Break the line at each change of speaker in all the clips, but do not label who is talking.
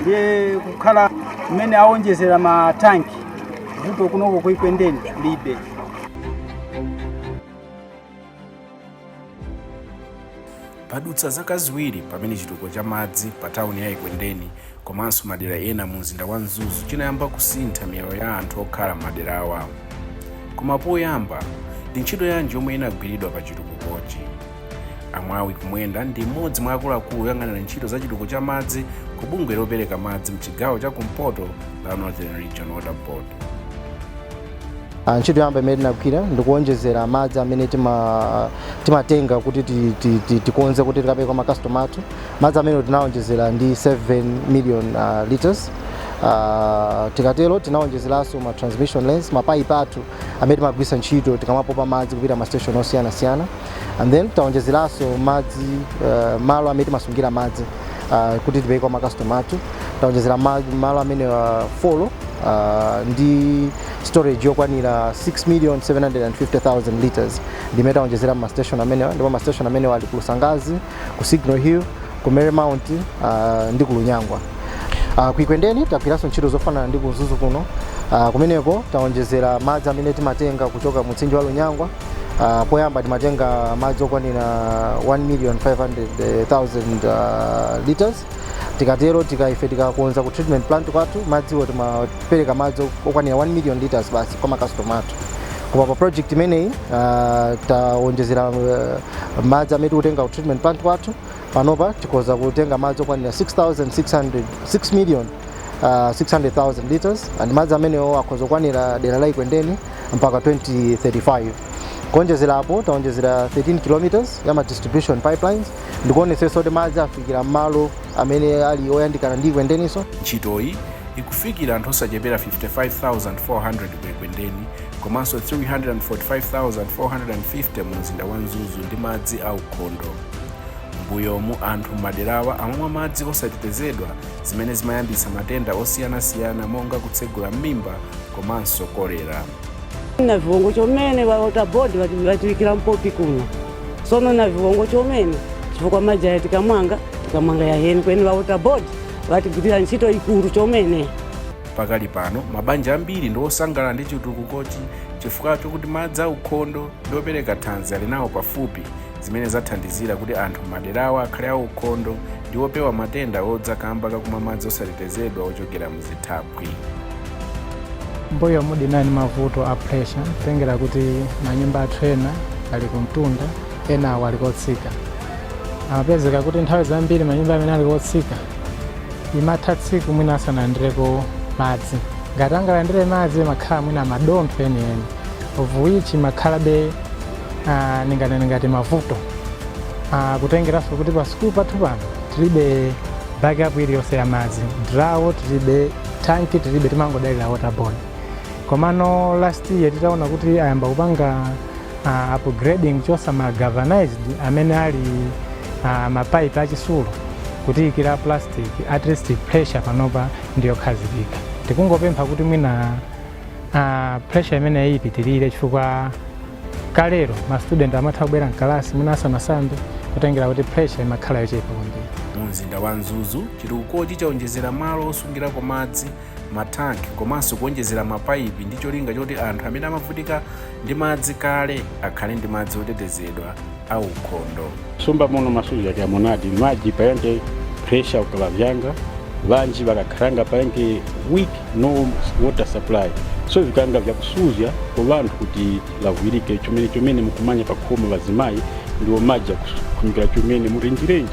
ndiye kukhala mmene awonjezera matanki vuto kunoko kuikwendeni libe
padutsa zaka ziwiri pamene chitukuko cha madzi pa tawuni ya ikwendeni komanso madera ena mu mzinda wa mzuzu chinayamba kusintha miyoyo ya anthu okhala m'madera awa koma poyamba ndi ntchito yanji yomwe inagwiridwa pa chitukukochi amwawi kumwenda ndi mmodzi mwa akuluakulu oyang'anira ntchito za chitukuko cha madzi ku bungwe lopereka madzi mchigawo cha kumpoto la northern region water board Ah,
ntchito yamba imene tinagwira ndikuonjezera madzi amene tima- timatenga kuti ti- ti- ti- tikonze kuti tikapereke kwa makastoma athu madzi amene tinaonjezera ndi 7 million ah, liters Ah, tikatero tinaonjezeranso ma transmission lines mapaipi athu amene timagwiritsa ntchito tikamapopa madzi kupita ma station osiyanasiyana and then taonjezeraso madzi uh, malo amene timasungira madzi uh, kuti tipereke kwa makastoma athu taonjezera ma- malo amene uh, folo uh, ndi storage yokwanira 6 million 750,000 liters ndimene taonjezera mastation amenewa ndipo mastation amenewa ali ku lusangazi ku signal hill ku mary mount uh, ndi ku lunyangwa uh, ku ikwendeni tagwiranso ntchito zofanana ndi ku mzuzu kuno uh, kumeneko taonjezera madzi amene timatenga kuchoka mu mtsinje wa lunyangwa uh, poyamba timatenga madzi okwanira 1 million 500000 uh, liters tikatero tika ife tikakonza ku treatment plant kwathu madziwo timapereka madzi okwanira 1 million liters basi kwa makastoma athu koma pa project imeneyi uh, taonjezera uh, madzi amene tikutenga ku treatment plant kwathu panopa tikhoza kutenga madzi okwanira 6600 6 million uh, 600,000 liters and madzi amenewo akhoza kukwanira dera la ikwendeni mpaka 2035 kuonjezera apo taonjezera 13 kilometers ya ma distribution pipelines ndikuonetsetsa kuti madzi afikira mmalo amene ali oyandikana ndi ikwendeniso ntchitoyi
ikufikira anthu osachepera 55400 ku ikwendeni komanso 345,450 mu mzinda wa mzuzu ndi madzi aukhondo mbuyomu anthu m'maderawa amamwa madzi osatetezedwa zimene zimayambitsa matenda osiyanasiyana monga kutsegula m'mimba komanso kolera na
viwongo chomene ŵa water board vati- ŵatiŵikira mpopi kuno sono na viwongo chomene chifukwa maji aya tikamwanga tikamwanga yaheni kweni ŵa water board ŵatigwirira ntchito ikulu chomene Pakali
pano, mabanja ambiri ndi osangalala ndi chitukukochi chifukwa chokuti madzi aukhondo ndi opereka thanzi ali nawo pafupi, zimene zathandizira kuti anthu m'maderawa akhale aukhondo ndi opewa matenda odza kamba kakumwa madzi osatetezedwa ochokera
muzithaphwi. Mbuyomu tinali ndi mavuto a pressure kutengera kuti manyumba athu ena ali kumtunda enawo ali kotsika. Amapezeka kuti nthawi zambiri manyumba amene ali kotsika imatha tsiku mwina asanalandireko madzi. Ngati angalandire madzi amakhala mwina madontho enieni of which amakhalabe ah, ninganene ngati mavuto Ah, kutengeranso kuti pa sukulu pathu pano tilibe backup iliyonse ya madzi drawo tilibe tanki tilibe timangodalira waterboard komano last year titaona kuti ayamba kupanga uh, upgrading kuchotsa ma galvanized amene ali uh, mapipe achisulo kutiikira plastic at least pressure panopa ndiyokhazikika tikungopempha kuti mwina uh, pressure imeneyi ipitirire chifukwa kalero ma student ankatha kubwera mkalasi mwina asanasambe kutengera kuti pressure imakhala yochepa kwambiri mu mzinda wa
mzuzu chitukukochi chaonjezera malo osungirako madzi matanki komanso kuonjezera mapaipi ndi cholinga choti anthu amene amavutika ndi madzi kale akhale ndi madzi otetezedwa a ukhondo sumba muno
masuja kya monadi maji payange pressure ukala vyanga vanji vakakhalanga payange weak no water supply so vikanga vyakusuzya kwa vanthu kuti vavwirike chomene chomene mukumanya pakhomo vazimayi ndiwo maji akufunikira chomene murenjirenji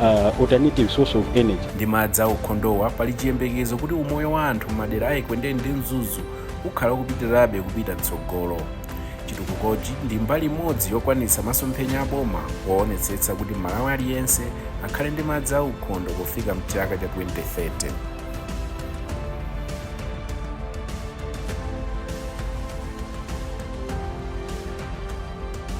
uh, alternative source of energy. Ndi madzi a
ukhondowa pali chiyembekezo kuti umoyo wa anthu m'madera a Ekwendeni ndi Mzuzu ukhala ukupitirabe kupita mtsogolo. Chitukukochi ndi mbali imodzi yokwanitsa masomphenya a boma powonetsetsa kuti Mmalawi aliyense akhale ndi madzi a ukhondo pofika mchaka cha 2030.